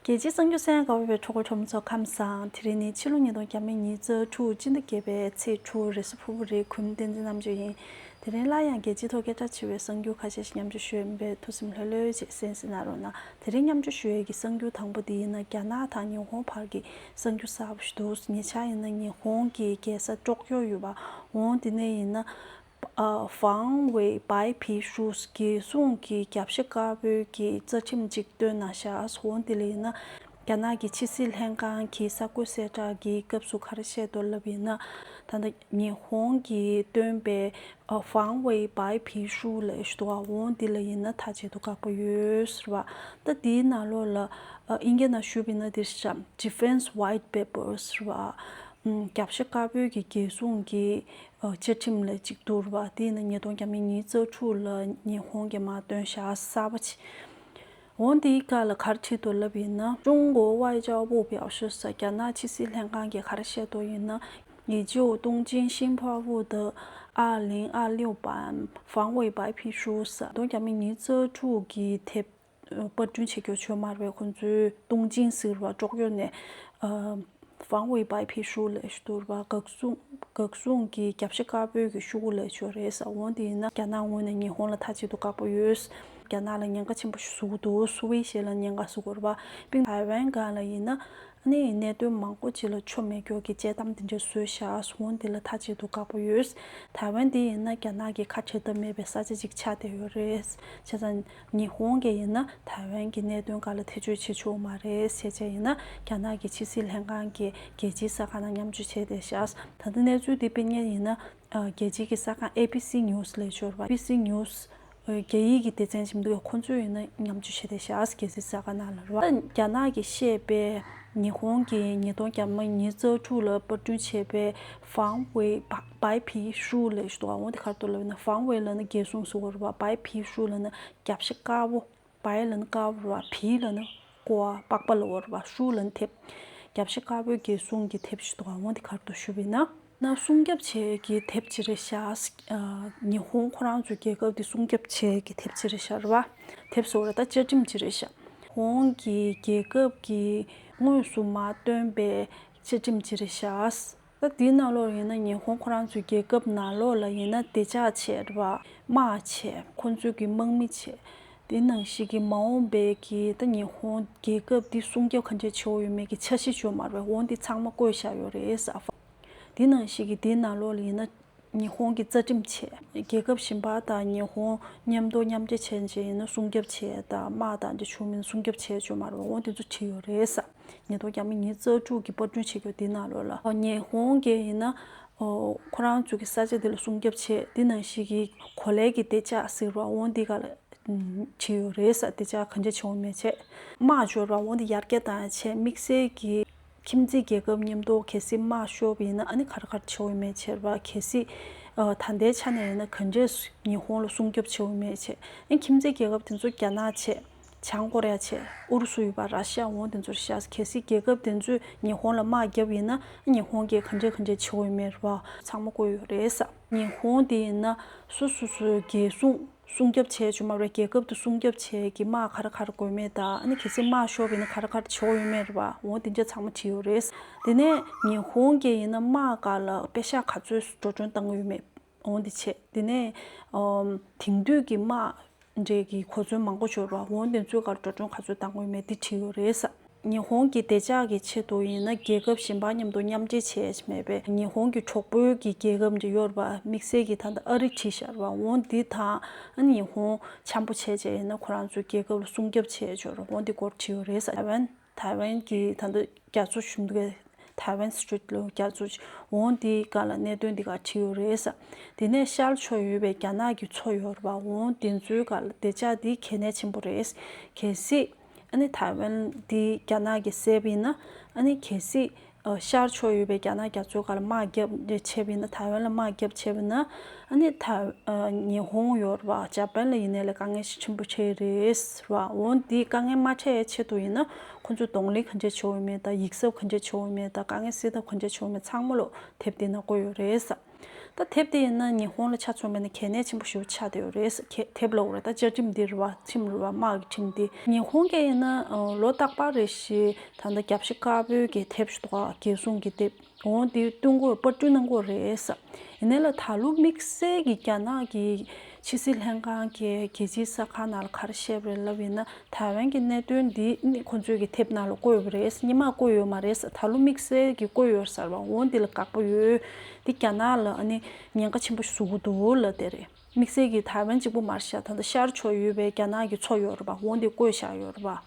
རྒྱལ་སྤྱིའི་གཙང་ཆུ་སའི་མགར་བ་བའི་གྲོགས་པོ་གྲོགས་མོ་ཚོ་ཁམས་བཟང་དེ་རིང་ནི་ཕྱི་ལོ་ཉིས་སྟོང་བརྒྱ་མེད་ཉིས་རྩ་དྲུག་སྤྱི་ཟླ་བརྒྱད་པའི་ཚེས་དྲུག་རེས་སུ་ཕུ་བོ་རེའི་གུས་མོ་བསྟན་འཛིན་རྣམ་དཔྱོད་ཡིན། དེ་རིང་སླར་ཡང་རྒྱལ་སྤྱིའི་ཐོག་སྐད་གྲགས་ཆེ་བའི་གསང་རྒྱུད་ཁ་ཤས་ཤིག་མཉམ་སྤྱོད་ཞུ་ཡོད་པས་ཐུགས་སེམས་ལྷོད་ལྷོད་ཅིག་སེམས་སེ་ན་རོགས་གནང་དེ་རིང་མཉམ་སྤྱོད་ཞུ་ཡས་ཀྱི་གསང་རྒྱུད་དང་པོ་འདི་ཡིན་ན་རྒྱ་ནག་དང་ཉི་ཧོང་བར་གྱི་གསང་རྒྱུད་གསར་བ་ཞིག་འདུག་ཉེ་ཆར་ཡིན་ན་ཉི་ཧོང་གི་རྒྱལ་ས་ཀྲོག་ཀྱོ་ཡོད་པ་འོང་དེ་ནས་ཡིན་ན་ཧྥང་ཝེ་པའེ་ཕི་ཧྲུའུ་ཅི་ཟུང་གིས་རྒྱབ་ཤ་དཀར་པོའི་གི་རྩ་ཁྲིམས་གཅིག་བཏོན་ན་ཤ་ཨས་ཧོ་ལྡི་ལི་ན་རྒྱ་ནག་གི་ཕྱི་སྲིད་ལྷན་ཁང་གི་ས་བགོས་གསལ་བསྒྲགས་ཀྱི་སྐབས་སུ་ཁ་རེ་བཤད་དོ་ལབ་ཡིན་ན། ད་ལྟ་ཉི་ཧོང་གིས་བཏོན་པའི་ཧྥང་ཝེ་པའེ་ཕི་ཧྲུའུ་ལས་ཤུ་ཨས་ཧོ་ལྡི་ལི་ཡིན་ན་ཐག་བཅད་དུ་བཀག་པ་ཡོད་ཟེར་བ། ད་དེའི་ནང་ལོགས་ལ་ཨིན་སྐད་ནང་ཞུབ་ཡིན་ན་འདིར་ཤ Defense White Paper ཟེར་བ། རྒྱབ་ཤ་དཀར་པོའི་གི་རྒྱལ་སྲུང་གི་བཅའ་ཁྲིམས་ལ་གཅིག་གྱུར་བ་དེ་ནི་ཉིས་སྟོང་གྱ་མི་གཉིས་བཅུ་དྲུག་ལ་ཉི་ཧོང་གི་དམག་དོན་བྱ་གསར་པ་བྱས། འོན་ཏེ་ཡིག་ག་ལ་གར་ཁྲིད་དུ་བསླེབས་ཡིན་ན། ཀྲུང་གོའི་ཝའེ་ཅའོ་པུའུ་པའོ་ཞི་སོགས་རྒྱ་ནག་ཕྱི་སྲིད་ལྷན་ཁང་གི་གར་བཤད་དུ་ཡིན་ན། ཡི་ཅོའུ་ཏུང་ཅིན་ཤིན་ཕའོ་ཝུའུ་ཏི། ཨ་ལིང་ཨ་ལིའུ་པཱན། ཧྥང་ཝུའེ་པའེ་ཕིང་ཧྲུའུ་སོགས་ཉིས་སྟོང་གྱ་མི་གཉིས་བཅུ་དྲུག་གི་དེབ་པར་སྐྲུན་བྱེད་རྒྱུར་ཆོས་སྨྲ་བས་ཁོང་ཚོའི་ཏུང་ཅིང་ཟེར་བ་ཀྲོག་གཡོག་ནས་ཧྥང་ཝུའེ་པའི་ཕའི་ཤུགས་ལས་བསྡུར་བ་འགག་སྲུང་གི་རྒྱབ་ཤ་དཀར་པོའི་གི་ཤུགས་ལས་བྱོལ་རེད་ཟ་འོང་དེ་ཡིན་ན་རྒྱ་ནག་ངོས་ནས་ཉི་ཧོང་ལ་མཐའ་གཅིག་ཏུ་དགག་པོ་ཡོད། རྒྱ་ནག་ལ་ཉེན་ཁ་ཆེན་པོ་བཟོ་འདུག་སུ་བའི་ཞལ་ལ་ཉེན་ཁ་བཟོ་དགོས་པ་པིང་ཐའེ་ཝན་སྒང་ལ་ཡིན་ན་ནི་གནད་དོན་མང་པོ་ཅི་ལ་ཆོ་མེད་གྱོ་གི་དཔྱད་གཏམ་དེ་འདྲ་བཟོས་བཞག་ཟ་འོང་དེ་ལ་མཐའ་གཅིག་ཏུ་དགག་པོ་ཡོད། ཐའེ་ཝན་དེ་ཡིན་ན་རྒྱ་ནག་གི་ཁ་འཁྲལ་ཐབས་མེད་པའི་ས་ཆ་ཅིག་ཆགས་བསྡད་ཡོད་རེད། བྱས་ཙང་ཉི་ཧོང་གི་ཡིན་ན་ཐའེ་ཝན་གྱི་གནད་དོན་འགའ་ལ་ཐེ་བྱུས་བྱེད་ཆོག་མ་རེད་བཤད་བྱས་ཡིན་ན་རྒྱ་ནག་གི་ཕྱི་སྲིད་ལྷན་ཁང་གིས་རྒྱལ་སྤྱིའི་ས་ཁང་ནང་མཉམ་སྤྱོད་བྱས་ཏེ་ཤག་ད་ལྟ་གནས་ཚུལ་འདི་སྤེལ་ཉེན་ཡིན་ན་རྒྱལ་སྤྱིའི་གི་ས་ཁང ABC News ལས་ཤོར་བ ABC News རྒྱ་ཡིག་གི་སྡེ་ཚན་ཞིབ་འདུག་གི་ཁོང་ཚོས་ཡིན་ན་མཉམ་སྤྱོད་བྱས་ཏེ་ཤག་རྒྱལ་སྲིད་ས་ཁང་ནང་ལ་རོགས་རྒྱ་ནག་གིས་བཤད་པའི་ཉི་ཧོང་གིས་ཉིས་སྟོང་གྱ་མ་ཉིས་རྩ་དྲུག་ལ་པར་སྐྲུན་བྱས་པའི Fang Wei བའི་བི་ཧྲུའུ་ལས་བྱུང་བའོ། དེ་ཁར་དུ་ལ་བས་ན་བང་བའི་ལ་ནི་རྒྱལ་གཟུངས་སུ་བོར་བ། བའི་བི་ཧྲུའུ་ལ་ནི་རྒྱ་བྱེད་དཀར་བོ། བའི་ལ་ནི་དཀར་བོར་བ། བིའི་ལ་ནི་ཀོ་བ་པགས་པ་ལ་བོར་བ། ཧྲུའུ་ལ་ནི་ཐེབ། རྒྱ་བྱེད་དཀར་བོའི་རྒྱལ་གཟུངས་ཀྱི་ཐེབ་བྱུང་བའོ། དེ་ཁར་དུ་ཞུ་བས་ན། ན་སྲུང་རྒྱ་བྱེད་ཀྱི་ཐེབ་ཅི་རེ་བྱ། ཉི་ཧོང་ཁོ་རང་ཚོའི་རྒྱལ་ཁབ་ཀྱི་སྲུང་རྒྱ་བྱེད་ཀྱི་ཐེབ་ཅི་རེ་བྱར་བ། ཐེབ་བཟོ་ར་དང་བཅའ་ཁྲིམས་ཅི་རེ་བྱ། ཧོང་གི་རྒྱལ་ཁབ་ཀྱིས་དངོས་སུ་མ་བཏོན་པའི་བཅའ་ཁྲིམས་ཅི་རེ་བྱ། སྐབས་དེའི་གནའ་ལོག་ཡིན་ན་ཉི་ཧོང་ཁོ་རང་ཚོའི་རྒྱལ་ཁབ་ནང་ལོག་ལ་ཡིན་ན་བདེ་ཆགས་ཆེད་རེད་པ། དམའ་ཆེད་ཁོ་ཚོས་གི་དམག་མི་ཆེད། དེ་ནང་བཞིན་གི་མ་འོངས་པའི་གི་ད་ཉི་ཧོང་རྒྱལ་ཁབ་འདི་སྲུང་སྐྱོབ་ག་འདྲས་བྱེད་འོ་ཡོད་མེད་གི་འཆར་གཞི་བཅོ་མར་བས་འོང་འདི་ཚང་མ་བཀོད་བཞག་ཡོད་རེད་ས་ཧྥ། དེ་ནང་བཞིན་གི་དེའི་གནའ་ལོག་ལ་ཡིན་ན། ཉི་ཧོང་གི་རྩ་ཁྲིམས་ཆེད་རྒྱལ་ཁབ་གཞན་པ་དང་ཉི་ཧོང་མཉམ་གཏོར་མཉམ་རྒྱལ་བྱས་རྗེས་ཡིན་ན་སྲུང་སྐྱོབ་ཆེད་དང་དམག་དང་དེ་བྱུང་མིན་སྲུང་སྐྱོབ་ཆེད་བཅོས་མ་རུང་བོ་དེ་ཚོ་བྲིས་ཡོད་རེད་ས་ཉི་ཐོག་རྒྱ་མི་ཉིས་རྩ་དྲུག་གི་པར་སྐྲུན་བྱེད་རྒྱུ་འདི་ན་ལོ་ལ་ཉི་ཧོང་གི་ཡིན་ན་ཁོ་རང་ཚོ་གི་ས་ཆ་དེ་ལ་སྲུང་སྐྱོབ་ཆེད་འདི་ན་ཞིག་གི་གོ་ལའི་གི་དེ་ཅག་ཟེར་བ་བོ་འདི་ག་ལ་བྲིས་ཡོད་རེད་ས་དེ་ཅག་གང་ཅག་བྱེད་འོང་མེད་ཆེད་དམག་བཅོས་ར་བོ་འདི་ཡར་རྒྱ་དང་ཆེད་དམིགས་བསལ་གི། ཁྱིམ་མཚེས་རྒྱལ་ཁབ་མཉམ་གཏོགས་གལ་སྲིད་དམག་ཤོབ་ཡིན་ན་ཨ་ནི་གར་གར་བྱེད་འོས་མེད་ཆེར་བ་གལ་སྲིད་ད་ལྟའི་ཆ་ནས་ཡིན་ན་ག་འདྲས་ཉི་ཧོང་ལ་སྲུང་སྐྱོབ་བྱེད་འོས་མེད་ཆེ་ཨན་ཁྱིམ་མཚེས་རྒྱལ་ཁབ་དེ་ཚོ་རྒྱ་ནག་ཆེ་བྱང་ཀོ་རེ་ཡ་ཆེ་ཨུ་རུ་སུ་ཡོད་པ་ར་ཤི་ཡ་འོང་དེ་ཚོར་བཤད་གལ་སྲིད་རྒྱལ་ཁབ་དེ་ཚོས་ཉི་ཧོང་ལ་དམག་བརྒྱབ་ཡིན་ན་ཨ་ཉི་ཧོང་གིས་ག་འདྲས་ག་འདྲས་བྱེད་འོས་མེད་རེད་བ། ཚང་མ་བཀོད་ཡོད་རེད་ས། ཉི་ཧོང་དེ་ཡིན་ན་སོ་སོ་སོའི་རྒྱལ་སྲུང་སྲུང་སྐྱོབ་བྱས་ཆོག་མ་རེད་རྒྱལ་ཁབ་ཏུ་སྲུང་སྐྱོབ་བྱས་ཀྱི་དམག་ག་རེ་ག་རེ་དགོས་མེད་ད་ཨ་ནི་གལ་སྲིད་དམག་ཤོར་བས་ན་ག་རེ་ག་རེ་བྱེད་འོག་ཡོད་མེད་རེད་པ་འོང་དེ་འདྲ་ཚང་མ་བྲིས་ཡོད་རེད་དེ་ནས་ཉི་ཧོང་གི་ཡིན་ན་དམག་ག་ལ་དཔེ་ཤག་ག་ཚོད་འགྲོ་གྲོན་བཏང་ཡོད་མེད་འོང་དེ་བྱེད་དེ་ནས་དེང་དུས་ཀྱི་དམག་འདྲེ་གི་གོ་མཚོན་མང་པོ་འབྱོར་བ་འོང་དེ་ཚོད་ག་རེ་འགྲོ་གྲོན་ག་ཚོད་བཏང་ཡོད་མེད་དེ་བྲིས་ཡོད་རེད། ཉི་ཧོང་གི་བདེ་འཇགས་ཀྱི་ཆེད་དུ་ཡིན་ན་རྒྱལ་ཁབ་གཞན་པ་མཉམ་དུ་མཉམ་འབྲེལ་བྱས་མེད་པས་ཉི་ཧོང་གི་གྲོགས་པོའི་གི་རྒྱལ་ཁབ་འདྲི་ཡོར་བ་དམིགས་བསལ་གྱིས་ད་ལྟ་ཨ་རི་ཁྲི་ཤར་བ་འོང་འདི་དང་ཉི་ཧོང་འཆམ་པོ་བྱས་བྱས་ཡིན་ན་ཁོ་རང་ཚོའི་རྒྱལ་ཁབ་ལ་སྲུང་སྐྱོབ་བྱས་འཇོར་འོང་འདི་སྐོར་འདྲི་ཡོ་རེད་ཟེར་བས་ཐའེ་ཝན་གྱི་ད་ལྟ་རྒྱ་མཚོ་ཞུ་འདུག་གས་ཐའེ་ཝན Street ལོ་རྒྱ་མཚོ་འོང་འདི་ག་ལ་གནད་དོན་འདི་ག་འདྲི་ཡོ་རེད་ཟེར་འདི་ནས་ཤར་ཕྱོགས་ཡོད་པའི་རྒྱ་ནག་གི་མཚོ་ཡོར་བ་འོང་འདི་ཚོའི་ག་ལ་བདེ་འཇགས་འདི་གལ་གནད་ཆེན་པོ་རེད་གལ་སྲིད། ཨ་ནི་ཐའེ་ཝན་འདི་རྒྱ་ནག་གི་སེབ་ཡིན་ན་ཨ་ནི་གལ་སྲིད་ཤར་ཕྱོགས་ཡོད་པའི་རྒྱ་ནག་རྒྱ་མཚོའི་ཁར་དམག་རྒྱབ་འདྲེ་ཆེབ་ཡིན་ན་ཐའེ་ཝན་ལ་དམག་རྒྱབ་ཆེབ་ཡིན་ན་ཨ་ནི་ཐ་ཉི་ཧོང་ཡོར་བ་ཇཱ་པན་ལ་ཡིན་ནའི་ལ་དཀའ་ངལ་ཞིག་ཆེན་པོ་འཕྲད་རེད་ར་འོ་འདི་དཀའ་ངལ་མ་འཕྲད་ཡའི་ཆེད་དུ་ཡིན་ན་ཁོ་ཚོས་གདོང་ལེན་གང་འདྲས་བྱེད་འོས་མེད་དང་ཡིག་གཟབ་གང་འདྲས་བྱེད་འོས་མེད་དང་དཀའ་ངལ་སེལ་ཐབས་གང་འདྲས་བྱེད་འོས་མེད་ཚང་མ་ལོག་དེབ་དེ་ན་བཀོད་ཡོད་རེད་ས། ད་དེབ་དེ་ཡིན་ན་ཉི་ཧོང་ལ་ཆ་མཚོན་པ་ནི་གལ་གནད་ཆེན་པོ་ཞིག་ཆགས་བསྡད་ཡོད་རེད་ཟེར། དེབ་ལོག་རེད་ད་བཅའ་ཁྲིམས་འདིར་བ་ཁྲིམས་རེད་བ་དམག་གི་ཁྲིམས་འདི། ཉི་ཧོང་སྐད་ཡིན་ན་ལོ་རྟག་པར་རེད་ཞེས་ད་ལྟ་རྒྱབ་ཤ་དཀར་པོའི་གི་དེབ་ཞུ་དོགས་རྒྱལ་སྲུང་གི་དེབ་འོང་དེ་བསྟུན་སྒོས་པར་སྐྲུན་གནང་སྒོ་རེད། ཡིན་ན་ལ་ད་ལོ་དམིགས་བསལ་གྱི་རྒྱ་ནག་གི་ཕྱི་སྲིད་ལྷན་ཁང་གིས་རྒྱལ་སྤྱིའི་ས་ཁང་ནང་ལ་ག་རེ་བཤད་པ་རེད་ལབ་ཡིན་ན་ཐའེ་ཝན་གྱི་གནད་དོན་འདི་ནི་ཁོང་ཚོས་ཀྱི་དེབ་ནང་ལ་བཀོད་ཡོད་པ་རེད་སྙེ་མར་བཀོད་ཡོད་མ་རེད་ས་ད་ལོ་དམིགས་བསལ་གྱིས་བཀོད་ཡོད་ཟེར་བ་འོ་འདི་ལ་དགག་པ་ཡོད་འདི་རྒྱ་ནག་ལ་ནི་ཉེན་ཁ་ཆེན་པོ་བཟོ་གི་འདུག་ལ་དེ་རེད་དམིགས་བསལ་གྱིས་ཐའེ་ཝན་གཅིག་པུ་མར་ཤར་ད་ལྟ་ཤར་ཆོག་ཡོད་པའི་རྒྱ་ནག་གི་ཚོགས་ཡོད་རེད་པ་འོ་འདི་བཀོད་བཞག་ཡོད་རེད་པ།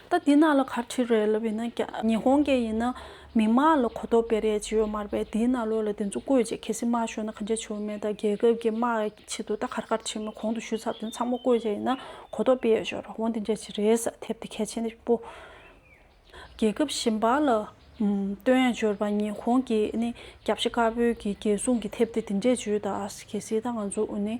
ད་དེ་ནང་ལ་ག་ཁྲི་རེད་ལབ་ཡིན་ན་ཉི་ཧོང་གི་ཡིན་ན་མི་དམངས་ལ་གོ་ཐོབ་པའི་རེད་ཅེས་ཡོད་མར་པས་དེའི་ནང་ལོག་ལ་དེ་ཚོ་བཀོད་ཅེས་གལ་སྲིད་དམག་ཤོར་ན་ག་འདྲ་བྱུར་མེད་ད་རྒྱལ་ཁབ་ཀྱི་དམག་ཆེད་དུ་ད་གར་གར་བྱེད་མི་གོང་དུ་ཞུས་ཚབ་དེ་ཚང་མ་བཀོད་ཅེས་ཡིན་ན་གོ་ཐོབ་པས་ཤོར་འོང་དེ་འདྲ་ཅིག་རེད་ས་ཐེབས་དེ་གལ་ཆེན་པོ། རྒྱལ་ཁབ་གཞན་པ་ལ་སྟོན་ཡང་བྱོར་བ་ཉི་ཧོང་གི་ནི་རྒྱབ་ཤ་དཀར་པོའི་གི་རྒྱལ་སྲུང་གི་ཐེབས་དེ་དེ་འདྲས་བྱོས་ད་གལ་སྲིད་ད་ང་ཚོ་ནི་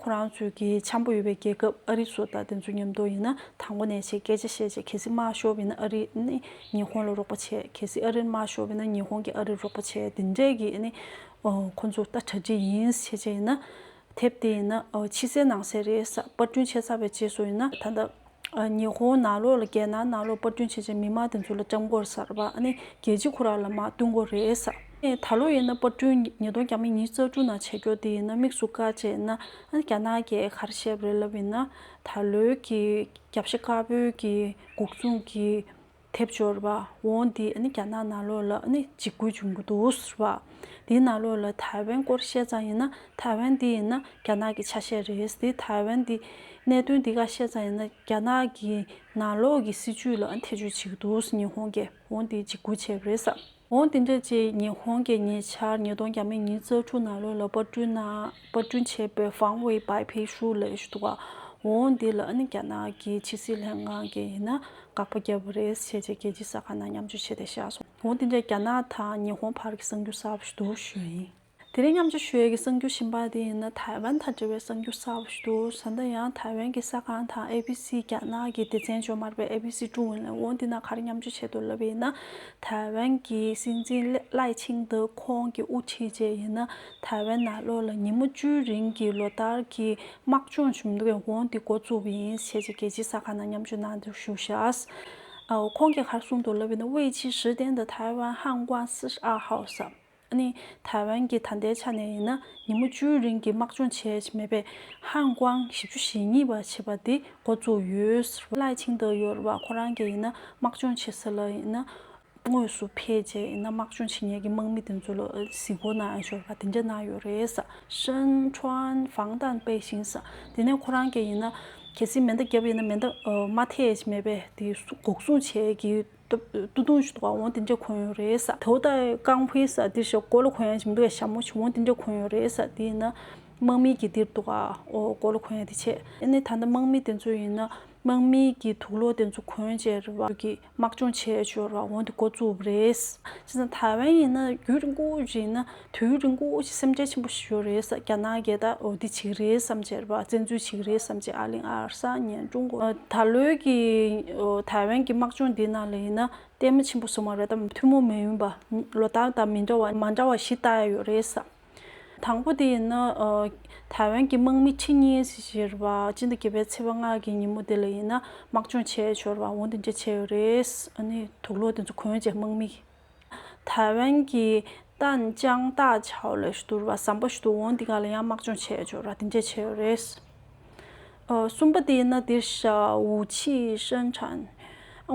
ཁོ་རང་ཚོས་གི་འཆམ་པོ་ཡོད་པའི་རྒྱལ་ཁབ་ཨ་རི་སོགས་དང་དེ་ཚོ་མཉམ་དུ་ཡིན་ན་དང་པོ་ནས་བྱས་སྐད་ཆ་བཤད་བྱས་གལ་སྲིད་དམར་ཤོག་བས་ན་ཨ་རི་ནི་ཉི་ཧོང་ལ་རོགས་པ་བྱས་གལ་སྲིད་ཨ་རིར་དམར་ཤོག་བས་ན་ཉི་ཧོང་གིས་ཨ་རིར་རོགས་པ་བྱས་དེ་འདྲས་གི་ནི་ཁོ་ཚོ་ལྟ་གྲ་སྒྲིག་ཡིན་བྱས་བྱས་ཡིན་ན། དེབ་དེ་ཡིན་ན་ཕྱི་གསལ་ནང་གསལ་རེད་ས་པར་སྐྲུན་བྱས་ཚར་བའི་རྗེས་སུ་ཡིན་ན་ད་ལྟ། ཉི་ཧོང་ནང་ལོགས་ལ་བསྐྱལ་ན་ནང་ལོགས་དཔར་སྐྲུན་བྱེད་བྱེད་མི་མང་དེ་ཚོ་ལ་ལྕམ་སྐོར་གསར་པ་ནི་རྒྱལ་སྤྱི་ཁོ་རང་ལ་མ་བསྟུན་དགོས་རེད་བསམ། ད་ལོ་ཡིན་ན་དཔར་སྐྲུན་ཉིས་སྟོང་གྱ་མི་གཉིས་རྩ་དྲུག་ནང་བྱེད་རྒྱོ་དེ་ཡིན་ན་དམིགས་སུ་བཀར་བྱས་ན་རྒྱ་ནག་རྒྱའི་ཁར་བཤད་པ་རེད་ལབ་ཡིན་ན་ད་ལོའི་གི་རྒྱབ་ཤ་དཀར་པོའི་གི་འགུག་ཚུང་གི་ཐེབས་འབྱོར་བ་འོང་འདི་རྒྱ་ནག་ནང་ལོགས་ལ་འཇིགས་སྐུལ་བྱུང་གི་འདུག་ཟེར་བ། འདི་ནང་ལོགས་ལ་ཐའེ་ཝན་སྐོར་བཤད་ཙང་ཡིན་ན་ཐའེ་ཝན་འདི་ཡིན་ན་རྒྱ་ནག་གི་ཆ་ཤས་རེད་འདི་ཐའེ་ཝན་འདི་གནད་དོན་འདི་ག་བཤད་ཙང་ཡིན་ན་རྒྱ་ནག་གི་ནང་ལོགས་ཀྱི་སྲིད་ཇུས་ལ་ཐེ་ཇུས་བྱེད་ཀྱི་འདུག་ཉི་ཧོང་གིས་འོང་འདི་འཇིགས་སྐུལ་བྱས་པ་རེད་ཟེར། འོང་དེ་འདྲ་ཅིག་ཉི་ཧོང་གི་ཉེ་ཆར་ཉིས་སྟོང་གྱ་མི་ཉིས་བརྩེགས་དྲུག་ནང་ལོ་ལ་དཔར་སྐྲུན་ན་དཔར་སྐྲུན་བྱས་པའི་ཧྥང་ཝེ་པའི་བེད་ཤུགས་ལས་ཞུ་དུ་བ་འོང་དེ་ལ་ཨ་ནི་རྒྱ་ནག་གི་ཕྱི་སྲིད་ལྷན་ཁང་གིས་ཡིན་ན་དགག་པ་རྒྱབ་པ་རེད་བྱས་རྗེས་རྒྱལ་སྤྱིའི་ས་ཁང་ནང་མཉམ་སྤྱོད་བྱས་ཏེ་བཞག་སོང་འོང་དེ་འདྲ་རྒྱ་ནག་དང་ཉི་ཧོང་བར་གྱི་གསང་རྒྱུ་གསར་བ་ཞིག་འདུག་ཞུ་ཡིན། དེ་རིང་མཉམ་ཆུ་ཤོད་ཀྱི་གསང་རྒྱུད་ཤིང་པར་དེ་ཡིན་ན་ཐའེ་ཝན་དང་འབྲེལ་བའི་གསང་རྒྱུད་གསར་བ་ཞིག་འདུག་བཟའ་ཟླ་ཡང་ཐའེ་ཝན་གྱི་གསར་ཁང་དང་ཨེ་བྷི་སི་རྒྱ་ནག་གི་སྡེ་ཚན་ཇོ་མར་པའི་ཨེ་བྷི་སི་ཀྲུང་ཝུན་ལན་ཝུའུ་འདི་ན་ག་རེ་མཉམ་ཆུ་བྱེད་འདུག་ལབ་པ་ཡིན་ན་ཐའེ་ཝན་གྱི་སྲིད་འཛིན་བླའི་ཆིང་འདི་ཁོང་གི་དབུ་ཁྲིད་རྗེས་ཡིན་ན་ཐའེ་ཝན་ནང་ལོ་ལ་ཉིན་མོ་བཅུའི་རིང་གི་ལོ་ལྟར་གྱི་དམག་སྦྱོང་བྱུང་འདུག་ཝུའུ་འདི་མགོ་བཙུགས་པ་ཡིན་ཞེས་རྒྱལ་སྤྱིའི་གསར་ཁང་ནང་མཉམ་ཆུ་གནང་འདུག་ཞུ་ཤཱས་ཁོང་གིས་ག་རེ་གསུངས་འདུག་ལབ་པ་ཡིན་ན་དབྱི་ཇི་ཞི་ཏན་དང་ཐའེ་ཝན་ཧང་ཀོང་སི་ཨར་ཧའོ་སམ། ནི་ཐའེ་ཝན་གྱི་ད་ལྟའི་ཆ་ནས་ཡིན་ན་ཉིན་མོ་བཅུའི་རིང་གི་དམག་སྦྱོང་བྱས་མེད་པའི་ཧང་ཀོང་བཞི་བཅུ་ཞེ་གཉིས་པ་བྱེད་པ་འདི་འགོ་བཙུགས་ཡོད། ལའེ་ཆིང་ཏོ་ཡོར་བ་ཁོ་རང་གིས་ཡིན་ན་དམག་སྦྱོང་བྱེད་ས་ལ་ཡིན་ན་དངོས་སུ་ཕེབས་རྗེས་ཡིན་ན་དམག་སྦྱོང་བྱེད་ཉེས་ཀྱི་དམག་མི་དེ་ཚོ་ལ་གཟིགས་སྐོར་གནང་ཡང་ཤོར་བ་དེ་འདྲ་གནང་ཡོད་རེད། ཧྲེན་ཁྲོན་ཧྥང་ཏན་པེ་ཞིན་ས་དེ་ནས་ཁོ་རང་གིས་ཡིན་ན་གལ་སྲིད་མེ་མདའ་བརྒྱབ་ཡིན་ན་མེ་མདའ་མ་ཐེག་མེད་པའི་དེ་འགོག་སྲུང་བྱེད་ཀྱི། ཏུ་ཏུ་ཞུ་དགའ་འོང་དེ་འདྲས་གོན་ཡོད་རེད་ས་དེའོ་ད་ཀང་བྷི་ས་དེར་ཞོག་གོ་ལོ་གོན་ཡ་ཇི་མི་འདུག་ཡ་ཞྭ་མོ་ཆུ་འོང་དེ་འདྲས་གོན་ཡོད་རེད་ས་དེ་ཡིན་ན། དམག་མི་གི་དེར་འདུག་ཨའོ་གོ་ལོ་གོན་ཡ་དེ་བྱེད་ཨེ་ནས་ད་ལྟ་དམག་མི་དེ་ཚོ་ཡིན་ན་དམག་མི་གི་དུག་ལོ་དེ་ཚོ་གོན་བྱས་རེད་བ་གི་དམག་སྦྱོང་བྱས་བྱོས་རེད་བ་འོང་དེ་འགོ་བཙུགས་བ་རེད་ས་ཅི་ས་ཐའི་ཝན་ཡིན་ན་རྒྱུད་རིང་པོ་བཞིན་ན། དུས་ཡུན་རིང་པོ་ཞིག་སེམས་ཁྲལ་ཆེན་པོ་ཞིག་ཞུ་རེས་ས་རྒྱ་ནག་རྒྱལ་དར་འོ་དི་བྱིག་རེས་སམ་བྱེར་བ་བཙན་འཛུལ་བྱིག་རེས་སམ་བྱེར་ཨ་ལིང་ཨར་ས་ཉན་ཀྲུང་གོ་ད་ལོའི་ཀྱི་ཐའེ་ཝན་གྱི་དམག་སྦྱོང་འདི་ནང་ལ་ཡིན་ན་ལྟད་མོ་ཆེན་པོ་བཟོ་མ་རེད་དམ་ཐུན་མོང་མིན་པ་ལོ་ལྟར་དང་མི་འདྲ་བ་མ་འདྲ་བ་བཞི་བཏགས་ཡ་ཡོད་རེས་ས་དང་པོ་དེ་ཡིན་ན་ཐའེ་ཝན་གྱི་དམག་མི་ཁྲི་གཉིས་སི་བྱེར་བ་སྤྱི་ཟླ་བརྒྱད་པའི་ཚེས་པ་ལྔ་གྱི་ཉིན་མོ་དེ་ལ་ཡིན་ན་དམག་སྦྱོང་བྱས་ཞོར་བ་འོ་དི་འདྲ་བྱས་ཡོད་རེས་ཨ་ནི་དུག་ལོག་དེ་ཚོ་གོན་རྗེས་དམག་མི། ཐའེ་ཝན་གྱི་ཏན་ཅང་ཏའ་ཆའོ་ལས་བསྡུར་བ་ཟམ་པ་ཞིག་ཏུ་འོང་འདི་ག་ལ་ཡང་དམག་སྦྱོང་བྱས་ཡོད་འབྱོར་བ་དེ་འདྲས་བྱས་ཡོད་རེད། གསུམ་པ་དེ་ནི་དེར་ཞའོ་ཆི་ཧྲན་ཁྲན།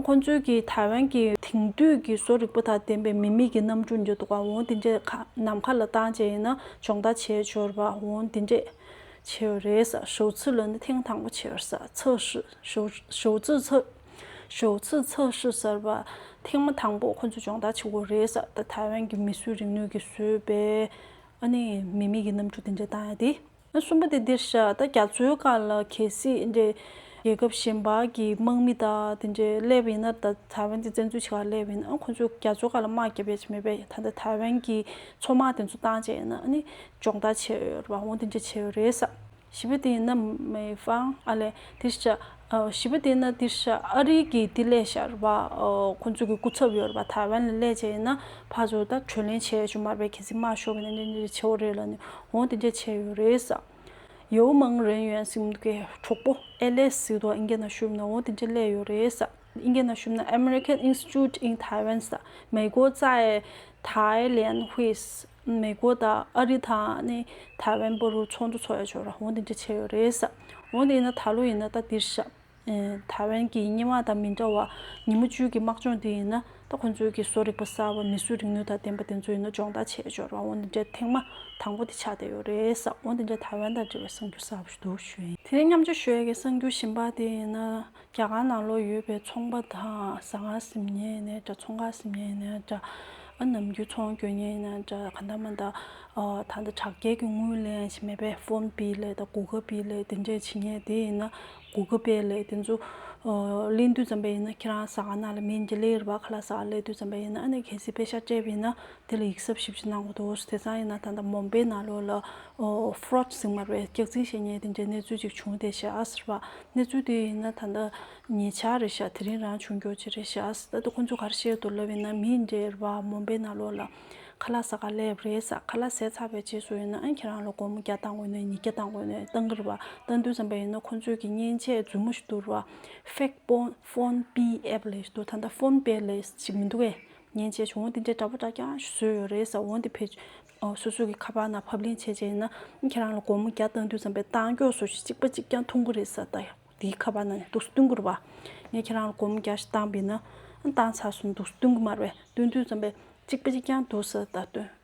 ཁོང་ཚོས་ཀྱིས་ཐའེ་ཝན་གྱི་དེང་དུས་ཀྱི་བཟོ་རིག་པ་དང་ལྡན་པའི་མི་མེད་ཀྱི་གནམ་གྲུ་འགྱུར་ལྡོག་པ་འོང་དེ་འདྲས་ཁ་ནམ་མཁའ་ལ་བཏང་རྗེས་ཡིན་ན་སྦྱོང་བརྡར་བྱས་འབྱོར་བ་འོང་དེ་འདྲས་བྱས་ཡོད་རེད། ཞའོ་ཆི་ལོན་ནི་ཐེངས་དང་པོ་བྱས་ཡོད། ཞའོ་ཆི་ལོན། ཞོགས་ཚུགས་ཚགས་བཞུ་གསར་པ། ཐེངས་མ་དང་པོ་ཁོ་ཚོ་སྦྱོང་བརྡར་བྱེད་སྒོ་རེད་ས་ད་ཐའེ་ཝན་གྱི་མི་སུའི་རིག་ནུས་ཀྱིས་བཟོས་པའི། ཨ་ནི་མི་མེད་ཀྱི་གནམ་གྲུ་དེ་འདྲ་བཏང་ཡ་དེ། གསུམ་པ་དེ་འདིར་བཞག་ད་རྒྱ་མཚོའི་དཀའ་ལ་གལ་སྲིད། རྒྱལ་ཁབ་གཞན་པ་གྱི་དམག་མི་དག་དེ་འདྲས་སླེབས་ཡིན་ན་ད་ཐའེ་ཝན་དེ་བཙན་འཛུལ་བྱེད་ཁར་སླེབས་ཡིན་ཨང་ཁོ་ཚོས་རྒྱ་མཚོའི་དཀའ་ལ་དམག་བརྒྱབ་ཡ་ཆེ་མེད་པས་ད་ད་ཐའེ་ཝན་གྱི་མཚོ་དམག་དེ་ཚོ་བཏང་བྱས་ཡིན་ན་ཨ་ནི་སྦྱོང་བརྡར་བྱེད་འོས་རེད་པ་འོང་དེ་འདྲས་བྱེད་འོས་རེད་ས། བཞི་པོ་དེ་ཡིན་ན་མི་ཧྥང་ཨ་ལེ་ཏི་ཤ། བཞི་པོ་དེ་ཡིན་ན་ཏི་ཤ་ཨ་རིའི་གི་ཏི་ལེ་ཤར་བ་ཁོ་ཚོ་གི་སྐུ་ཚབ་ཡོད་རེད་པ་ཐའེ་ཝན་ལ་ལས་བྱེད་ཡིན་ན་ཕ་ཚོ་ད་གྲོས་ལེན་བྱས་ཆོག་མར་པའི་གི་ཚིག་སྨྲ་ཤོག་གི་ནས་འདི་འདི་ཆེ་བོ་རེད་ལ་ནས་འོང་དེ་འདྲས་བྱས་ཡོད་རེད་ས། ཡའུ་མང་རེན་ཡོན་སིམ་གི་གྲོགས་པོ་ཨེ་ལེ་སི་དོ་ཨིན་གེ་ན་ཤུབ་ནས་འོང་དེ་འདྲས་ལས་ཡོད་རེད་ས། ཨིན་གེ་ན་ཤུབ་ན American Institute in Taiwan ས་མེ་གོ་ཙའེ་ཐའེ་ལེན་ཧུས། མེག་གོ་དང་ཨ་རི་དང་ནི་ཐའེ་ཝན་པོ་རུ་ཚོགས་འདུ་ཚོགས་ཡོད་ཆོག་ར་འོང་དེ་འདྲ་བྱས་ཡོད་རེད་ས་འོང་དེ་ཡིན་ན་ད་ལོ་ཡིན་ན་ད་འདིར་ཤ་ཐའེ་ཝན་གྱི་སྙན་དབང་དང་མི་འདྲ་བ་ཉིན་མོ་བཅུའི་གི་དམག་སྦྱོང་དེ་ཡིན་ན་ད་ཁོང་ཚོའི་གི་བཟོ་རིག་པ་གསར་བ་མི་གསོད་རིག་ནུས་དང་ལྡན་པ་དེ་ཚོ་ཡིན་ན་སྦྱོང་བརྡར་བྱས་ཆོག་ར་འོང་དེ་འདྲའི་ཐེངས་མ་དང་པོ་དེ་ཆགས་བསྡད་ཡོད་རེད་ས་འོང་དེ་འདྲའི་ཐའེ་ཝན་དང་འབྲེལ་བའི་གསང་རྒྱུ་གསར་བ་ཞུ་འདུག་ཞུ་ཡིན། དེ་ནས་མཉམ་སྤྱོད་ཞུ་ཡ་གི་གསང་རྒྱུ་བཞིན་པ་དེ་ཡིན་ན་རྒྱ་གར་ནང་ལོགས་ཡོད་པའི་ཚོང་པ་དང་ཟ་ང་ཟིམ་ཉེ་ཡིན་ནའི་འདྲ་ཚོང་ཁ་ཟིམ་ཉེ་ཡིན་ནའི་འདྲ། ཨ་ནམ་རྒྱུ་ཚོང་སྐྱོ་ཉེ་ཡིན་ནའི་འདྲ་ག་འདྲ་མ་འདྲ། ད་ལྟ་དྲག་རྒྱལ་གྱི་དངུལ་ལེན་བཞིན་མེད་པས་ཕོན་པི་ལེ་དང་གུ་གེ་པི་ལེ་དེ་འདྲས་བྱེད་ངེས་དེ་ཡིན་ན་གུ་གེ་པེ་ལེ་དེ་ཚོ་གླེང་དུས་ཙམ་པ་ཡིན་ན་ཁྱེད་རང་ཟ་ང་ན་ལ་མིན་གྱི་ལེ་རི་བ་ཁ་ལ་ཟ་ང་གླེང་དུས་ཙམ་པ་ཡིན་ན་ཨ་ནེ་གྷེ་སི་པེ་ཤ་སྤྲད་པ་ཡིན་ན་དེ་ལ་ཡིག་གཟབ་ཞིབ་ཀྱི་གནང་བ་དང་བོ་སི་ཐེ་ཚང་ཡི་ན་ཐང་དང་མོན་པའི་ནགས་ལོགས་ལ Fraud ཟིང་དམར་བའི་སྐྱག་རྫིང་ཞེས་ཉལ་ཏེ་འདྲེན་གནས་ཚུལ་ཅིག་བྱུང་བསྡད་བྱས་ཨ་ཟེར་བ། གནས་ཚུལ་དེ་ཡིན་ན་ད་ལྟ་ཉེ་ཆར་རེད་བྱ་དེ་རིང་རང་བྱུང་འགྱུར་གྱི་རེད་བྱས་ཨ་ཟེར་ད་ལྟ་ཁོ་ཚོས་ག་རེ་བཤད་འདུག་ལབ་ཡིན་ན་མི་འདྲེར་བ་མོན་པའི་ནགས་ལོགས་ལ་ཁ་ལག་ཟ་ག་ལེབ་རེད་ཟ་ཁ་ལག་ཟས་ཚར་བའི་རྗེས་སུ་ཡིན་ན་ཁྱེད་རང་ལ་སྒོར་མོ་བརྒྱ་བཏང་དགོས་ནས་ཉིས་བརྒྱ་བཏང་དགོས་ནས་བཏང་གི་རེད་བ་ལྟ་འདུག་བསམ་པ་ཡིན་ན་ཁོ་ཚོས་ཀྱི་མཉེན་ཆས་རྫུན་མོ་ཞིག་འདུག་རེད་བ Fake Phone Phone Pay App ལས་ཞེས་འདུག་ད་ལྟ Phone Pay ལས་ཞེས་མི་འདུག་གས་ཉེན་ཆེ་བྱུང་བ་འདི་འདྲའི་འདྲ་པོ་འདྲ་ཀྱང་བཟོས་ཡོད་རེད་ཟེར་འོང་དེ་བེད་སྤྱོད་སོ་སོ་གི་ཁ་པར་ནང་ཕབ་ལེན་བྱས་རྗེས་ན་ཁྱེད་རང་ལ་སྒོར་མོ་བརྒྱ་བཏང་དུས་ཙམ་པའི་གཏང་སྐྱོག་སོ་བཞི་གཅིག་པ་གཅིག་ཀྱང་འཐུང་གི་རེད་ཟེར་ད་དེའི་ཁ་པར་ནང་ནས་འདུག་སྟོན་གི་རུ་བ་ངས་ཁྱེད་རང་ལ་སྒོར་མོ་བརྒྱ་བཞི་བཏང་པས་ན་བཏང་ཚར་སོང་འདུག་སྟོན་གི་མར་བས་སྟོན་དུས་ཙམ་པའི་གཅིག་པ་གཅིག་ཀྱང་འདུག་ཟེར་ད་སྟོན།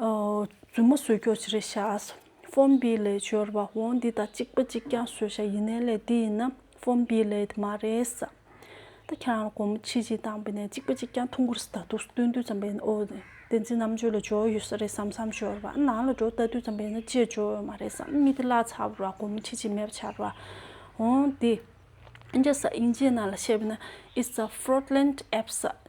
རྫུན་མ་བཟོས་ཁྱོ་ཅི་རེད་ཤག་ཨས་ཧྥོན་བི་ལའི་སྦྱོར་བ་འོང་འདི་དང་གཅིག་པ་གཅིག་ཀྱང་བཟོས་ཤག་ཡིན་ནའི་ལས་འདི་ཡིན་ན་ཧྥོན་བི་ལའི་དེ་མ་རེད་ས་ད་ཁྱེད་རང་ལ་སྒོར་མོ་ཆིག་གཅིག་བཏང་བས་ནས་གཅིག་པ་གཅིག་ཀྱང་ཐུང་གུར་ས་ད་དུག་ས་སྟོན་དུས་ཙམ་པས་ནས་ཨོ་བདེན་ཚིག་རྣམ་དཔྱོད་ལ་སྦྱོར་ཡོད་ས་རེད་བསམ་བསམ་སྦྱོར་བ་ནང་ལ་འགྲོ་ལྟ་དུས་ཙམ་པས་ནས་ཅེས་སྦྱོར་ཡོད་མ་རེད་བསམ་མི་དེ་བརླག་ཚར་བ་ར་སྒོར་མོ་ཆིག་གཅིག་མེད་པ་ཆར་བ་འོང་འདི་ཨིན་རྒྱ་ས་ཨིན་རྗེ་ནང་ལ་བཤད་པས་ནས་ཨིས་ཨ་ཧྥོར་ལེན་ཨེབ་ས་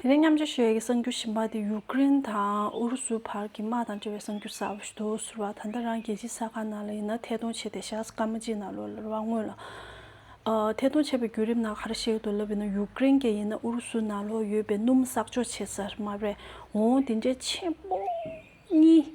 དེ་ནས་མཉམ་སྤྱོད་བྱེད་ཡུལ་གྱི་གསང་རྒྱུད་གཞན་པ་དེ་ཡུག་ཀེ་རེན་དང་ཨུ་རུ་སུའི་བར་གྱི་དམག་དང་འབྲེལ་བའི་གསང་རྒྱུད་གསར་པ་ཞིག་ཏུ་ཟུར་བ་ད་ལྟ་རང་རྒྱལ་སྤྱིའི་ས་ཁང་ནང་ལ་ཡིན་ན་ཐད་གཏོང་བྱས་ཏེ་བཞག་སྐར་མ་གཅིག་ནང་ལོ་ལར་བ་སྔོན་ལ་ཐད་གཏོང་བྱས་པའི་བརྒྱུད་རིམ་ནང་ག་རེ་ཞིག་ཏུ་ལབ་ཡོད་ན་ཡུག་ཀེ་རེན་གྱི་ཡིན་ན་ཨུ་རུ་སུའི་ནང་ལོ་ཡོད་པའི་སྣུམ་གསག་འཇོག་བྱེད་ས་མ་རེད་འོང་འདི་འདྲའི་ཆེན་པོ་གཉིས།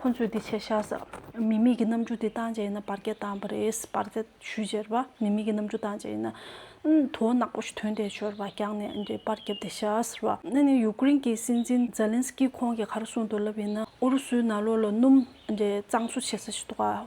ཁོ་ཚོས་འདི་བྱས་ཤག་ཟེར། མི་མེད་ཀྱི་རྣམ་འགྱུར་དེ་བཏང་བྱས་ཡིན་ན་བར་སྐད་བཏང་བ་རེད། བར་སྐད་ཞུས་ཅེར་བ། མི་མེད་ཀྱི་རྣམ་འགྱུར་བཏང་བྱས་ཡིན་ན། དོ་ནག་པོ་ཞིག་དོན་དེ་ཤོར་བ་རྐྱང་ནས་འདྲེ་དཔར་བརྒྱབ་དེ་ཤག་ཟེར་བ། ན་ནིང་ཡུག་ཀེ་རིན་གྱི་སྲིད་འཛིན་ཛཱེ་ལན་སི་ཀི་ཁོང་གི་གར་སོང་དུ་ལབ་ཡིན་ན་ཨུ་རུ་སུའི་ནག་ལོ་ལ་སྣུམ་འདྲེ་གཙང་བཟོ་བྱེད་ས་ཞིག་འདུག་ཨ།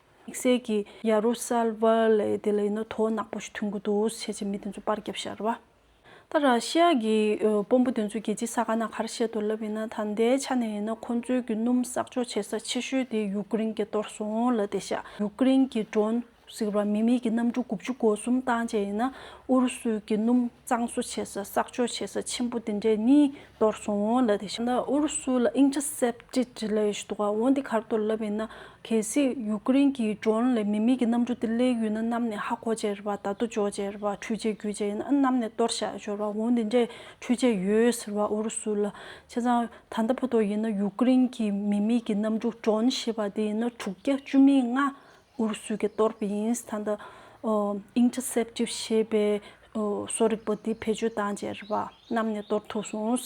དམིགས་བསལ་གྱིས་ཡ་རུ་སཱ་ལཱ་ལའི་དེ་ལ་ཡིན་ན་དོ་ནག་པོ་ཞིག་ཐོན་གི་འདུག་བྱས་རྗེས་མི་དེ་ཚོ་པར་བརྒྱབ་ཤར་བ། ད་ར་ཤི་ཡ་གྱི་དཔོན་པོ་དེ་ཚོས་རྒྱལ་སྤྱིའི་ས་ག་ན་ག་ར་བཤད་དུ་ལབ་ཡིན་ན་ད་ལྟའི་ཆ་ནས་ཡིན་ན་ཁོ་ཚོའི་གི་སྣུམ་གསག་འཇོག་བྱེད་ས་ཆེ་ཤོས་དེ་ཡུ་ཀེ་རེན་གྱིས་གཏོར་སོང་ལ་དེ་ཤ་ཡུ་ཀེ་རེན་གྱི Drone ཟིག་ར་མི་མེད་ཀྱི་གནམ་གྲུ་དགུ་བཅུ་གོ་གསུམ་བཏང་བཅས་ཡིན་ན་ཨུ་རུ་སུའི་གི་སྣུམ་གཙང་བཟོ་བྱེད་ས་གསག་འཇོག་བྱེད་ས་ཆེན་པོ་དེ་འདྲས་གཉིས་གཏོར་གསུམ་འོང་ལ་དེ་བཞིན་ཨུ་རུ་སུ་ལ་དབྱིངས་ཆ་སྲེད་ཅེས་བྲིས་ལ་ཡོད་ཤི་འདུག་འོན་ཏེ་གར་གཏོར་ལབ་ཡིན་ན་གལ་སྲིད་ཡུ་ཀེ་རེན་གྱི་མགྲོན་ལས་མི་མེད་ཀྱི་གནམ་གྲུ་དེ་གླེགས་ཡུལ་ན་བསྣམས་ནས་ཧ་གོ་བྱས་རེད་པ་ད་དུ་འཇོག་བྱས་རེད་པ་འཕྲུལ་ཆས་བརྒྱུད་བྱས་ཡིན་ན་ཨ་བསྣམས་ནས་གཏོར་བཞག་ཤོར་བ་འོན་ཏེ་འདྲའི་འཕྲུལ་ཆས་ཡོད་ཟེར་བ་ཨུ་རུ་སུ་ལ་བྱས་ཙང་ད་ལྟ་བོ་དོ་ཡིན་ན་ཡུ་ཀེ་རེན་གྱི་མི་མེད་ཀྱི་གནམ་གྲུ་མགྲོན་ཞེས་པ་དེ་ཡིན་ན་དྲུག་བརྒྱ་བཅུ་མེད་ལྔ་ཨུ་རུ་སུའི་གི་ཏོར་པི་ཡིན་སི་ཐན་དུ། Interceptive། ཞེས་པའི་གསོ་རིག་པ་དེ་བེད་སྤྱོད་བཏང་རྗེས་རི་བ་བསྣམས་ནས་གཏོར་ཐུབ་སོང།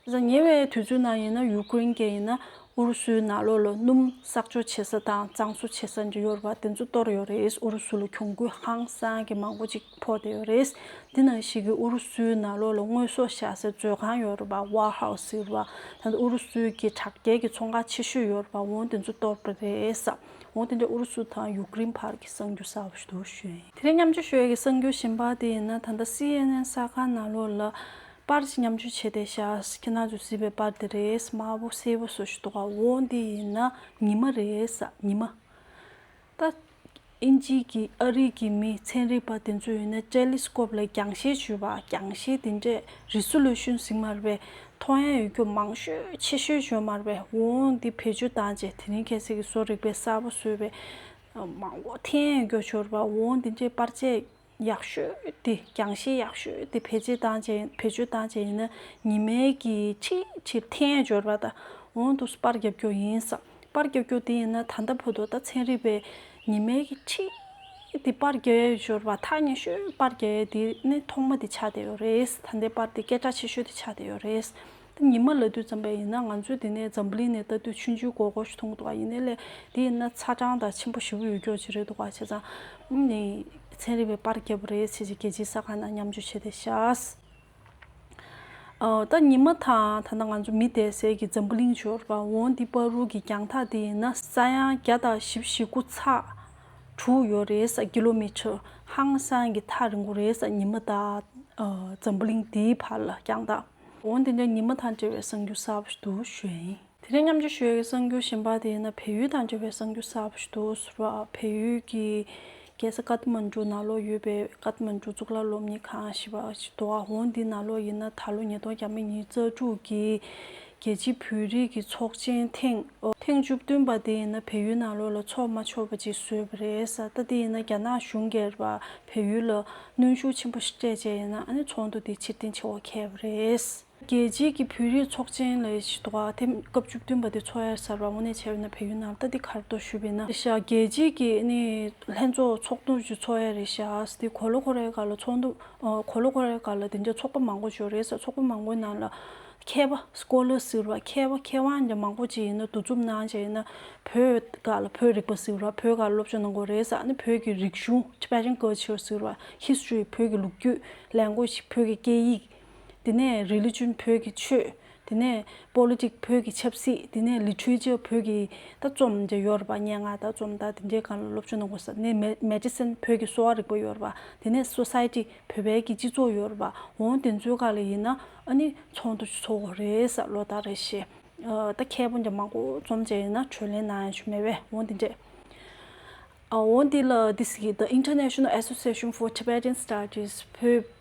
གཟའ་ཉེ་བའི་དུས་ཚོད་ནང་ཡིན་ན་ཡུ་ཀེ་རིན་གྱི་ཡིན་ན་ཨུ་རུ་སུའི་ནགས་ལོག་ལ་སྣུམ་གསག་འཇོག་བྱེད་ས་དང་གཙང་བཟོ་བྱེད་ས་འདི་ཡོད་པ་དེ་ཚོ་གཏོར་ཡོད་རེད་ཨུ་རུ་སུ་ལ་གྱོང་གུད་ཧང་སང་གི་མང་པོ་ཅིག་ཕོག་བསྡད་ཡོད་རེད། འདི་ནང་བཞིན་གི་ཨུ་རུ་སུའི་ནགས་ལོག་ལ་དངོས་ཟོག་བཞག་སའི་མཛོད་ཁང་ཡོད་རེད་པ War House ཟེར་བ། ད་ལྟ་ཨུ་རུ་སུའི་གི་དྲག་རྒྱལ་གི་ཚོང་ཁང་ཆེ་ཤོས་ཡོད་རེད་པ་འོང་དེ་ཚོ་གཏོར་གི་རེད་བསམ། འོང་དེ་འདྲའི་ཨུ་རུ་སུ་དང་ཡུཀ་རེན་བར་གྱི་གསང་རྒྱུ་གསར་བ་ཞིག་ཏུ་བྱོན་ཡོད། དེ་རིང་མཉམ་སྤྱོད་ཞུ་ཡ་གི་གསང་རྒྱུ་བཞིན་པ་དེ་ཡིན་ན་ད་ལྟ་སི་ཨེན་ཨེན་གསར་ཁང་ནང་ལོགས་ལ་པར་ཞིག་མཉམ་སྤྱོད་བྱས་ཏེ་ཤཱས་ཁྱེད་རང་ཚོས་གཟིགས་པའི་པར་དེ་རེད་དམར་པོ་སེར་པོ་སོགས་ཞིག་འདུག་ཨ་འོང་དེ་ཡིན་ན་ཉི་མ་རེད་ཉི་མ། ད་ཨིན་ཇིའི་གི་ཨ་རིའི་གི་མི་ཚན་རིག་པ་དེ་ཚོས་ཡིན་ན་ཏྲེ་ལི་སྐོབ་ལ་རྒྱང་ཤེལ་བྱོས་པ་རྒྱང་ཤེལ་དེ་འདྲས་རི་སུ་ལོས་ཤུན་ཟིག་མར་བས་ཐོ་ཡན་ཡུལ་གྱོད་མང་ཤོས་ཆེ་ཤོས་བྱོན་མར་པའི་དབུ་འོང་འདི་བེད་སྤྱོད་བཏང་རྗེས་དེ་རིང་གལ་སྲིད་ཀྱི་བཟོ་རིག་པའི་གསར་པ་བཟོས་པའི་མང་བོ་ཐེ་ཡན་ཡུལ་གྱོད་བྱོལ་བར་དབུ་འོང་འདི་འདྲའི་པར་ཆས་ཡག་ཤོས་འདི་རྒྱང་ཤེལ་ཡག་ཤོས་འདི་བེད་སྤྱད་བཏང་བྱས་བེད་སྤྱོད་བཏང་བྱས་ཡིན་ན་ཉི་མའི་གི་ཆིག་ཆིག་ཐེ་ཡན་བྱོལ་བ་དང་དབུ་འོང་དུ་སུ་པར་རྒྱབ་སྐྱོར་ཡིན་བསམ། པར་རྒྱག་རྒྱུ་དེ་ཡིན་ན་ད་ལྟ་བུ་དོ་ད་ཚན་རིག་པའི་ཉི་མའི་ཁྲིད་དེ་པར་རྒྱག་ཡས་ཞོར་བ་ཐག་ཉེ་ཤོས་པར་རྒྱག་ཡས་དེ་ནི་ཐོག་མ་དེ་ཆགས་བསྡད་ཡོད་རེད་ད་ལྟའི་པར་དེ་སྐད་གྲགས་ཆེ་ཤོས་དེ་ཆགས་བསྡད་ཡོད་རེད་ད་ཉི་མ་ལ་དུས་ཙམ་པའི་ཡིན་ན་ང་ཚོས་དེ་ནས་འཛམ་བུ་གླིང་ནས་ལྟ་དུས་ཆུ་འཇུ་གོ་གོ་ཞིག་མཐོང་འདུག་ག་ཡིན་ནའི་ལས་དེ་ཡིན་ན་ཚ་གྲང་དང་ཆེན་པོ་ཞི་བོ་ཡོད་རྒྱོ་ཅི་རེད་འདུག་ག་བྱས་ཙང་ནས་ཚན་རིག་པའི་པར་རྒྱབ་རེད་བྱས་ཀྱི་རྒྱལ་སྤྱིའི་ས་ཁང་ན་མཉམ་འཇུ་བྱས་ཏེ་བཞགས། ད་ཉི་མ་དང་ཐ་ན་ང་ཚོ་མི་བསྡད་སའི་གི་འཛམ་བུ་གླིང་འབྱོར་བ་འོ་འདི་པར་རུ་གི་རྒྱང་ཐག་དེ་ཡིན་ན་ས་ཡང་བརྒྱ་དང་བཞི་བཞི་དགུ་ཚགས་དྲུག་ཡོད་རེད་ས་ཀི་ལོ་མི་ཆོད་ཧང་སང་གི་ཐག་རིང་བོ་རེད་ས་ཉི་མ་དང་འཛམ་བུ་གླིང་འདིའི་བར་ལ་རྒྱང་ཐག་འོ་འདི་འདྲ་ཉི་མ་དང་བྲལ་བའི་སང་རྒྱུ་ས་བ་ཞིག་ཏུ་ཞོན། དེ་རིང་མཉམ་འབྱོར་ཞུ་ཡུལ་གྱི་གསར་འགྱུར་ཞིམ་པ་དེ་ཡིན་ན་བལ་ཡུལ་དང་འབྲེལ་བའི་གསར་འགྱུར་གསར་པ་ཞིག་འདུག་ཟུར་པ་བལ་ཡུལ་གྱི་རྒྱལ་ས་ཀཱཏ་མཱན་ཀྲུའུ་ནཱ་ལོག་ཡོད་པའི་ཀཱཏ་མཱན་ཀྲུའུ་གཙུག་ལག་སློབ་གཉེར་ཁང་ཞེས་པ་ཞིག་འདུག་ཨ་འོང་འདི་ནཱ་ལོག་ཡིན་ན་ད་ལོ་ཉིས་སྟོང་གྱ་མ་གཉིས་རྩ་དྲུག་གི་རྒྱལ་སྤྱིའི་བོད་རིགས་ཀྱི་ཚོགས་ཆེན་ཐེངས་ཐེངས་བཅུ་བདུན་པ་དེ་ཡིན་ན་བལ་ཡུལ་ནཱ་ལོག་ལ་ཚོགས་མ་ཆོག་པ་ཅིག་བཟོས་པ་རེད་ས་ད་དེ་ཡིན་ན་རྒྱ་ནག་གཞུང་སྒེར་པ་བལ་ཡུལ་ལ་གནོན་ཤུགས་ཆེན་པོ་ཞིག་སྤྲད་བྱས་ཡིན་ན་ཨ་ནི་ཚོགས་འདུ་དེ་ཕྱིར་འཐེན་བྱེད་འོ་ཁེ་བ་རེད། རྒྱལ་སྤྱིའི་ཀྱི་བོད་རིགས་ཚོགས་ཆེན་ལས་ཞི་དོ་ཨ་ཐེམ་སྐབས་བཅུ་བདུན་པ་དེ་འཚོགས་ཡར་གསར་པ་དབུ་གནས་བྱས་པའི་ནང་བལ་ཡུལ་ནང་རྟ་དེ་གར་དོ་ཞུས་པའི་ན་རེ་ཤ་རྒྱལ་སྤྱིའི་ཀྱི་ནི་ལྷན་ཚོགས་ཚོགས་འདུ་བཅུ་འཚོགས་ཡར་རེ་ཤ་ཨ་སྟེ་གོ་ལོ་གོ་རེ་ག་ལ་ཚོགས་འདུ་གོ་ལོ་གོ་རེ་ག་ལ་དེ་འདྲ་ཚོགས་པ་མང་པོ་འཇོག་རེ་ས་ཚོགས་པ་མང་པོའི་ནང་ལ་མཁས་པ Scholar ཟེར་བ་མཁས་པ་མཁས་དབང་འདྲ་མང་པོ་བཅས་ཡིན་ན་འདུ་འཛོམས་གནང་བྱས་ཡིན་ན་བོད་ག་ལ་བོད་རིག་པ་ཟེར་བ་བོད་ག་ལ་སློབ་སྦྱོང་གནང་དགོས་རེ་ས་ནི་བོད་ཀྱི་རིག་གཞུང Tibetan Culture ཟེར་བ History བོད་ཀྱི་ལུགས་རྒྱུད Language བོད་ཀྱི་སྐད་ཡིག། དེ་ནས Religion བོད་ཀྱི་ཆོས། དེ་ནས Politics བོད་ཀྱི་ཆབ་སྲིད། དེ་ནས Literature བོད་ཀྱི་ད་རྩོམ་འདི་ཡོད་རེད་པ་སྙན་ངག་ད་རྩོམ་ད་དེ་འདྲའི་གང་ལ་སློབ་སྦྱོང་གནང་དགོས་ས་དེ་ནས Medicine བོད་ཀྱི་གསོ་བ་རིག་པ་ཡོད་རེད་པ་དེ་ནས Society བོད་པའི་གྱི་སྤྱི་ཚོགས་ཡོད་རེད་པ་འོང་དེ་ཚོའི་ག་ལ་ཡིན་ན་ཨ་ནི་ཚོགས་འདུ་ཚོགས་དགོས་རེད་ས་ལོ་ལྟར་རེད་ཤེས་ད་མཁས་པོ་འདྲ་མང་པོ་རྩོམ་བྱས་ཡོད་ན་གྲོས་ལན་གནང་ཡང་ཆོ་མེད་བས་འོང་དེ་འདྲས་འོང་དེ་ལ This གི The International Association for Tibetan Studies བོད་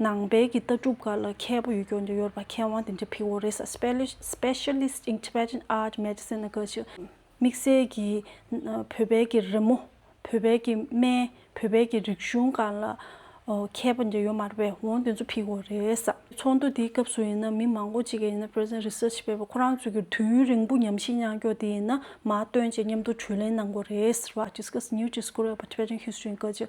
ནང་པའི་གི་ལྟ་གྲུབ་འགའ་ལ་མཁས་པོ་ཡུལ་སྐྱོར་འདིར་ཡོད་པ་མཁས་དབང་དེ་འདྲའི་ཕིག་ཨོ་རེ་ས Specialist in Tibetan Art Medicine ཨ་ག་ཞིག་དམིགས་བསལ་གྱིས་བོད་པའི་གི་རི་མོ་བོད་པའི་གི་སྨན་བོད་པའི་གི་རིག་གཞུང་འགའ་ལ་མཁས་པོ་འདྲ་ཡོད་མ་རེད་པས་འོང་དེ་ཚོ་ཕིག་ཨོ་རེ་ས། ཚོགས་འདུ་དེའི་སྐབས་སུ་ཡིན་ན་མི་མང་པོ་ཅིག་གིས་ཡིན་ན Present Research བས་པ་ཁོ་རང་ཚོས་གི་དུས་ཡུན་རིང་པོ་ཉམས་ཞིབ་མཉམ་སྐྱོར་དེ་ཡིན་ན་མ་སྟོན་བཅས་མཉམ་དུ་གྲོས་གླེང་གནང་དགོས་རེད་ཟེར་བ Discuss New Discovery of Tibetan History ཨ་ག་ཞིག་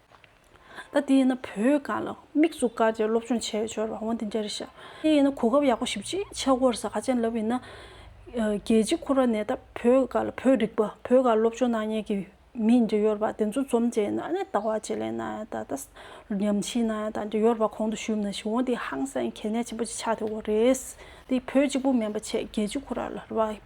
ད་དེ་ཡིན་བོད་སྒང་ལ་མིག་ཙུག་དཀའ་ཆེ་སློབ་སྦྱོང་བྱས་འབྱོར་བ་འོང་དེ་འདྲ་རེད་ཤག་དེ་ཡིན་གོ་སྐབས་ཡག་པོ་ཞིབ་ཅིག་ཆག་གོ་རེ་ས་ག་ཅན་ལབ་ཡིན་ན། རྒྱལ་སྤྱི་ཁོ་ར་ནས་ད་བོད་སྒང་ལ་བོད་རིག་པ་བོད་སྒང་སློབ་སྦྱོང་གནང་ཉེ་གི་མི་འདྲ་ཡོར་བ་དེ་ཚོ་འཛོམས་བྱས་ཡིན་ན་ནས་ད་བ་བྱེད་ལས་གནང་ཡང་ད་ད་ཉམས་ཞིག་གནང་ཡང་ད་འདྲ་ཡོར་བ་གོང་དུ་ཞུས་མ་ཞིག་འོང་དེ་ཧང་སངས་གལ་གནད་ཆེན་པོ་ཅིག་ཆག་དེ་བོ་རེད། དེ་བོད་གཅིག་པུ་མེན་པ་ཆེ་རྒྱལ་སྤྱི་ཁོ་ར་ལ་ར་བ་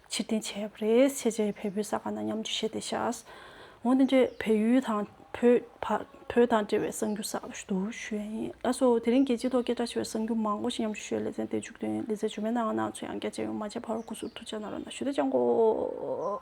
ཕྱིར་འཐེན་བྱས་པ་རེད་ཤེས་རྗེས་བལ་པོའི་ས་ཁ་ན་མཉམ་འཇུས་བྱས་ཏེ་བཞག། འོན་ཏེ་འདྲེ་བལ་ཡུལ་དང་བོད་བར་བོད་དང་འབྲེལ་བའི་གསང་རྒྱུ་ཟག་ཏུ་འདུག་ཞུས་ཡ་ཡིན་ལ་སོ། དེ་རིང་རྒྱལ་སྤྱིའི་ཐོག་སྐད་གྲགས་ཆེ་བའི་གསང་རྒྱུ་མང་པོ་ཞིག་མཉམ་འཇུས་ཞུས་ཡ་ལེ་ཚན་དེ་མཇུག་དོན་ལེ་ཚན་བྱུང་མེད་ནའང་ནང་ཆོས་ཡང་རྒྱ་ཆེ་ཡོང་མ་བྱས་ཕར་བོ་ཁུ་ཟུར་ཐུ་ཆ་ན་རོ་ན་ཞུ་དེ་ཅང་གོ།